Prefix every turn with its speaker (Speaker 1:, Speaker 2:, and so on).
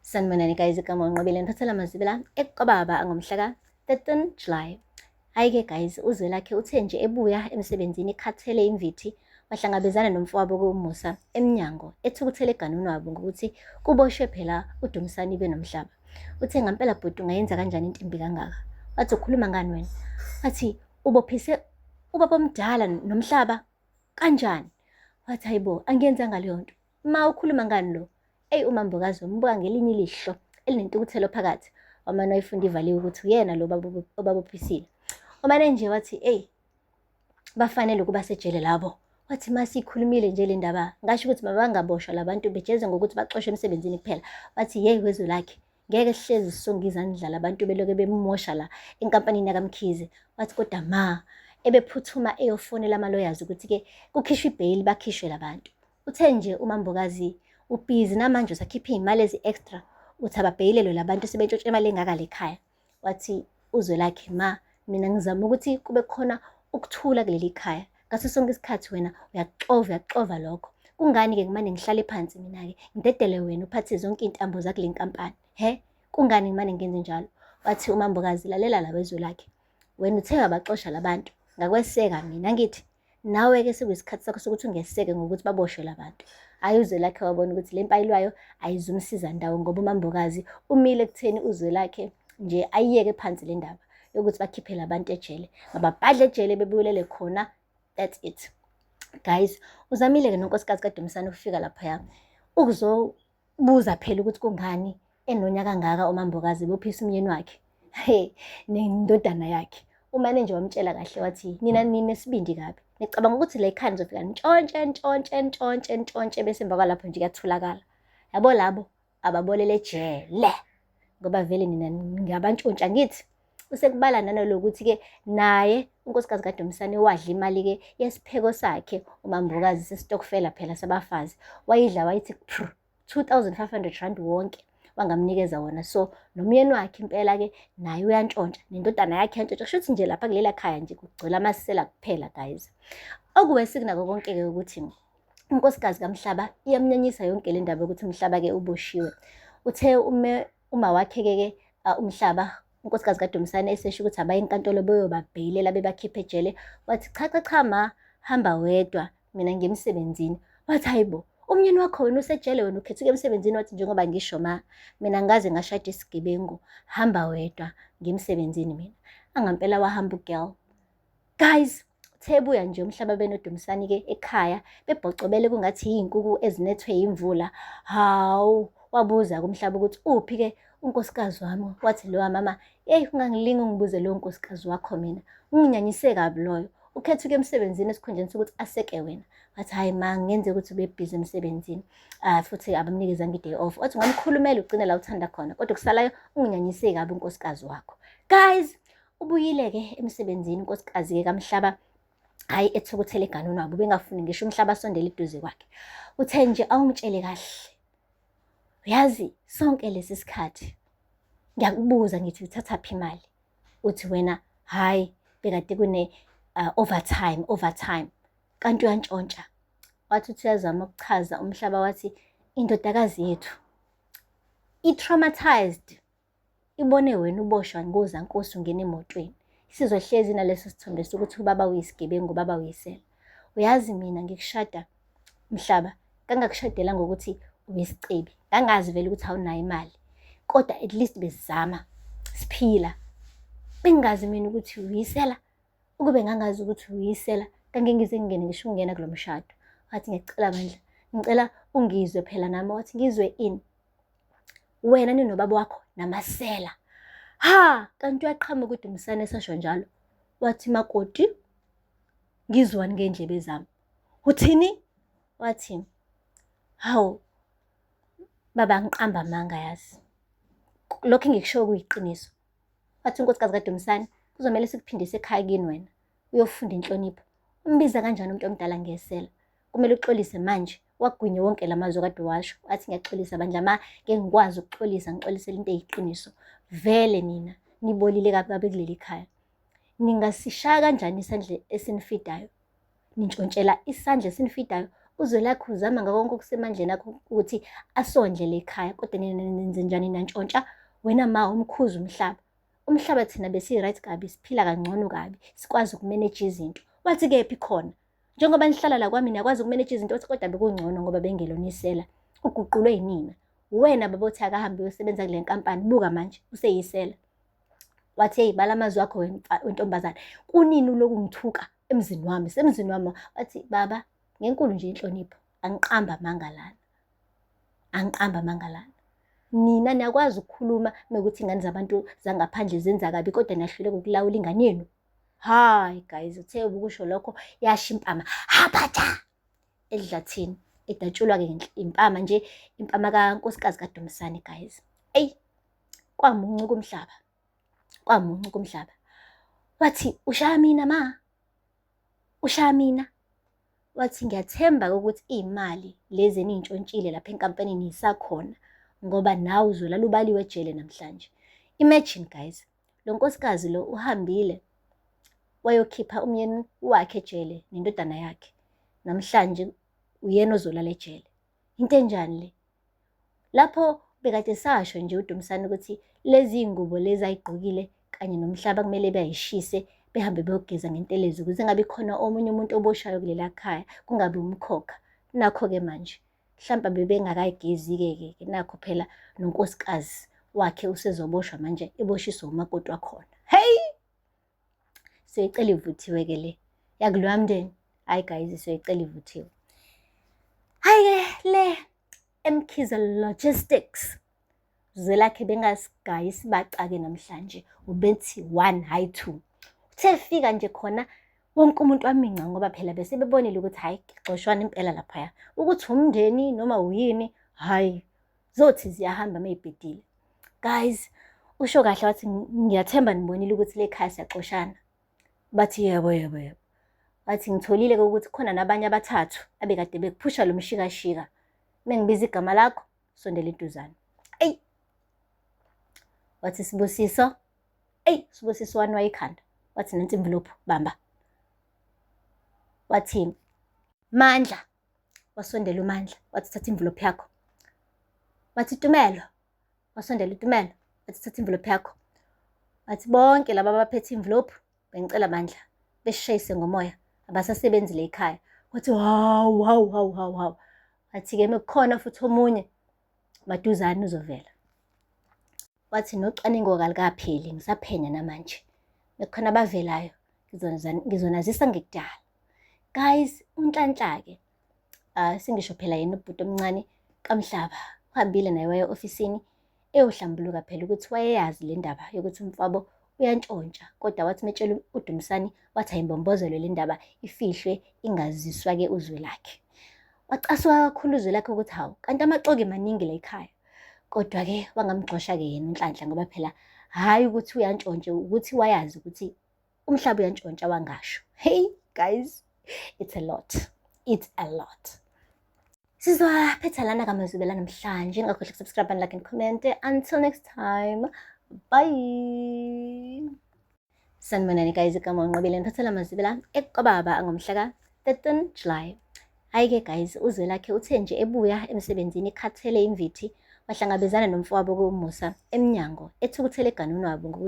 Speaker 1: Sanibonani guys igama unqobile niphathela amazibela ekukababa ngomhla ka-13 July hhayi-ke guys uzwelakhe uthe nje ebuya emsebenzini ekhathele imvithi wahlangabezana nomfowabo komusa emnyango ethukuthele eganwini wabo ngokuthi kuboshwe phela udumisani benomhlaba uthe ngampela bhuti ungayenza kanjani into embi kangaka wathi ukhuluma ngani wena wathi ubophise ubaba omdala nomhlaba kanjani wathi hayibo angiyenzanga leyo nto Ma ukhuluma ngani lo? Eyi umambokazi wambuka ngelinye ilihlo elinentukuthelo phakathi. Wamane wayifunda ivaliwe ukuthi uyena lo obabophisile. Umane nje wathi eyi bafanele ukuba sejele labo. Wathi ma sikhulumile nje le ndaba ngasho ukuthi mabangaboshwa labantu bejeze ngokuthi baxoshwe emsebenzini kuphela. Wathi yeyi wezwe lakhe ngeke sihlezi sisonga izandla labantu beloke bemosha la enkampanini yakamkhize. Wathi kodwa ma ebephuthuma eyofonela ama-lawyers ukuthi-ke kukhishwe ibheyili bakhishwe labantu. Uthe nje uMambokazi ubhizi namanje usakhipha iy'mali ezi-extra uthi ababheyilelwe labantu sebentshontsha imali engaka lekhaya wathi uzwelakhe ma mina ngizama ukuthi kube khona ukuthula kuleli khaya ngaso sonke isikhathi wena uyaxova uyaxova lokho kungani-ke ngimane ngihlale phansi mina-ke ngidedele wena uphathe zonke iy'ntambo zakule nkampani he kungani ngimane ngenze njalo wathi umambokazi lalela la wezwe lakhe wena uthe wabaxosha labantu ngakweseka mina ngithi Nawe-ke sekuyisikhathi sakho sokuthi ungeseke ngokuthi baboshwe la bantu. Hhayi uZwelakhe wabona ukuthi le mpayilwayo ayizumsiza ndawo ngoba uMambokazi umile ekutheni uZwelakhe nje ayiyeke phansi le ndaba yokuthi bakhiphe la bantu ejele. Mababhadle ejele bebuyelele khona, that's it. Guys, uzamile-ke nonkosikazi kaDumisane ukufika laphaya ukuzo Buza phela ukuthi kungani enonya kangaka umambokazi bophisa umyeni wakhe. He, nendodana yakhe. Umane nje wamtshela kahle wathi nina nina sibindi kabi. Nicabanga ukuthi le khani zofika ntshontshe ntshontshe ntshontshe ntshontshe bese emva kwalapho nje kuyatholakala. Yabo labo ababolele jele. Ngoba vele nina ngabantshontsha ngithi usekubala nanolokuthi-ke naye unkosikazi kaDumsane wadla imali-ke yesipheko sakhe umambokazi sesitokfela phela sabafazi wayidla wayithi 2500 rand wonke wangamnikeza wona so nomyeni wakhe impela-ke naye uyantshontsha nendodana yakhe yantshontsha kusho ukuthi nje lapha kulela khaya nje kugcwele amasisela kuphela guys okuwesekunako konke-ke ukuthi unkosikazi kamhlaba iyamnyanyisa yonke le ndaba yokuthi mhlaba-ke uboshiwe uthe ume Uma wakhekeke uh, umhlaba unkosikazi kaDumisane esesho ukuthi abaye enkantolo beyobabheyilela bebakhiphe ejele wathi cha cha cha ma hamba wedwa mina ngiyemsebenzini wathi hayibo umnyeni wakho wena usejele wena ukhethuke emsebenzini wathi njengoba ngisho ma mina ngaze ngashada isigebengu hamba wedwa ngimsebenzini mina angampela wahamba ugirl guys thebuya nje umhlaba benodumisani ke ekhaya bebhocobele kungathi izinkukhu ezinethwe imvula hawu wabuza kumhlaba ukuthi uphi ke unkosikazi wami wathi lo mama eyi ungangilingi ungibuze lo nkosikazi wakho mina unginyanyise kabi loyo ukhethuke emsebenzini esikhundleni sokuthi aseke wena wathi hhayi ma ngenzeka ukuthi ubebhizi emsebenzini um futhi abamnikezanga i-day off wathi ungamkhulumela ugcine la uthanda khona kodwa kusalayo unginyanyise kabi unkosikazi wakho guys Ubuyile-ke emsebenzini unkosikazi-ke kaMhlaba hhayi ethukuthele eganweni wabo ubengafuni ngisho umhlaba asondele eduze kwakhe uthe nje awungitshele kahle uyazi sonke lesi sikhathi ngiyakubuza ngithi uthatha phi imali uthi wena hhayi bekade kune uh, overtime overtime kanti uyantshontsha wathi uthi uyazama ukuchaza umhlaba wathi indodakazi yethu i-traumatized Ibone wena uboshwa ngoza nkosi ungena emotweni. Isizwe hlezi naleso sithombe sokuthi ubaba uyisigebengu ubaba uyisela. Uyazi mina ngikushada mhlaba kangakushadela ngokuthi uyisicebi. Ngangazi vele ukuthi awunayo imali. Kodwa at least besizama siphila. Bengazi mina ukuthi uyisela. Ukube ngangazi ukuthi uyisela kangengize ngingene ngisho ukungena kulo mshado. Wathi ngiyacela bandla. Ngicela ungizwe phela nami wathi ngizwe ini. wena ninobaba wakho namasela ha kanti uyaqhama ukuthi umsane esasho njalo wathi makoti ngizwani ngendlebe zami uthini wathi hawu baba ngiqamba amanga yazi lokho engikushoyo kuyiqiniso wathi unkosikazi kadumsane kuzomele sikuphindise ekhaya kini wena uyofunda inhlonipho umbiza kanjani umuntu omdala ngesela kumele uxolise manje wagwinye wonke la mazwi kade washo athi ngiyaxolisa bandla ma ke ngikwazi ukuxolisa ngixolisele into eyiqiniso vele nina nibolile kabi kabi kuleli khaya ningasishaya kanjani isandla esinifidayo nintshontshela isandla esinifidayo uzwelakhe uzama ngakonke okusemandleni akho ukuthi asondle le khaya kodwa nina nenze njani nantshontsha wena ma umkhuza umhlaba umhlaba thina besi-right kabi siphila kangcono kabi sikwazi ukumeneja izinto wathi kephi khona Njengoba nihlala la kwami niyakwazi ukumeneja izinto othi kodwa bekungcono ngoba bengelona isela. Uguqulwe yinina. Wena baba othi akahambe uyosebenza kule nkampani buka manje useyisela. Wathi hey bala amazwi akho wentombazane. Kunini uloku ngithuka emzini wami semzini wami wathi baba ngenkulu nje inhlonipho angiqamba amanga lana. Angiqamba amanga lana. Nina niyakwazi ukukhuluma mekuthi ingane zabantu zangaphandle zenza kabi kodwa niyahluleka ukulawula ingane yenu Hayi guys, uthe ubukusho lokho yasha impama. Habatha edlathini edatshulwa ke impama nje impama kankosikazi kaDumisane guys. Ey kwamuncu kumhlaba. Kwamuncu kumhlaba. Wathi ushaya mina ma. Ushaya mina. Wathi ngiyathemba ukuthi imali lezi enintshontshile lapha enkampanini isakhona ngoba nawe uzolala ubaliwe ejele namhlanje. Imagine guys, lo nkosikazi lo uhambile wayokhipha umyeni wakhe ejele nendodana yakhe namhlanje uyena ozolala ejele into enjani le lapho bekade sasho nje udumisana ukuthi lezi iy'ngubo lezi ayigqokile kanye nomhlaba kumele beyayishise behambe beyogeza ngentelezi ukuze ngabi khona omunye umuntu oboshayo kulela khaya kungabi umkhokha nakho-ke manje mhlawumbe bebengakayigezi-ke ke ke nakho phela nonkosikazi wakhe usezoboshwa manje eboshiswe umakoti wakhona heyi siyoyicela ivuthiwe ke le yakuloya mndeni hhayi guys siyoyicela ivuthiwe hhayi-ke le emkhize logistics Zwelakhe bengasigayi isibacake namhlanje ubethi one hhayi two uthe fika nje khona wonke umuntu waminca ngoba phela bese bebonile ukuthi hhayi xoshwana impela laphaya ukuthi umndeni noma uyini hhayi zothi ziyahamba meyibhedile guys usho kahle wathi ngiyathemba nibonile ukuthi le khaya siyaxoshana bathi yebo yebo yebo wathi ngitholile-ke ukuthi khona nabanye abathathu abekade bekuphusha lo mshikashika mengibiza igama lakho sondela iduzane eyi wathi sibusiso eyi sibusiso wani wayikhanda wathi nansi imvilophu bamba wathi mandla wasondela umandla wathi thatha imvilophu yakho wathi tumelo wasondela utumelo wathi thatha imvilophu yakho wathi bonke laba abaphethe imvilophu Bengicela bandla beshayise ngomoya abasasebenzi le ekhaya. Wathi hawu hawu hawu hawu hawu. Wathi-ke mekukhona futhi omunye maduzane uzovela. Wathi nocwaningo kalukapheli ngisaphenya namanje. Mekukhona abavelayo ngizonazisa ngekudala. Guys, uNhlanhla-ke ah singisho phela yena ubhuti omncane kamhlaba uhambile naye waya ofisini eyohlambuluka phela ukuthi wayeyazi le ndaba yokuthi umfabo uyantshontsha kodwa wathi metshela udumisani wathi ayimbombozelwe le ndaba ifihlwe ingaziswa-ke uzwe lakhe wacasuka kakhulu uzwe lakhe ukuthi hawu kanti amaxoki maningi la ekhaya kodwa-ke wangamgxosha-ke yena unhlanhla ngoba phela hhayi ukuthi uyantshontshe ukuthi wayazi ukuthi umhlaba uyantshontsha wangasho hey guys it's a lot it's a lot sizophetha lana kamazwibela namhlanje ningakhohlwa ukusubscribe and like and comment until next time bye sanibonani guys igama unqobile niphathela amazibela ekukababa angomhla ka 13 july hhayi-ke guys uzwelakhe uthe nje ebuya emsebenzini ekhathele imvithi wahlangabezana nomfowabo komusa emnyango ethukuthele eganunwabo ngokuthi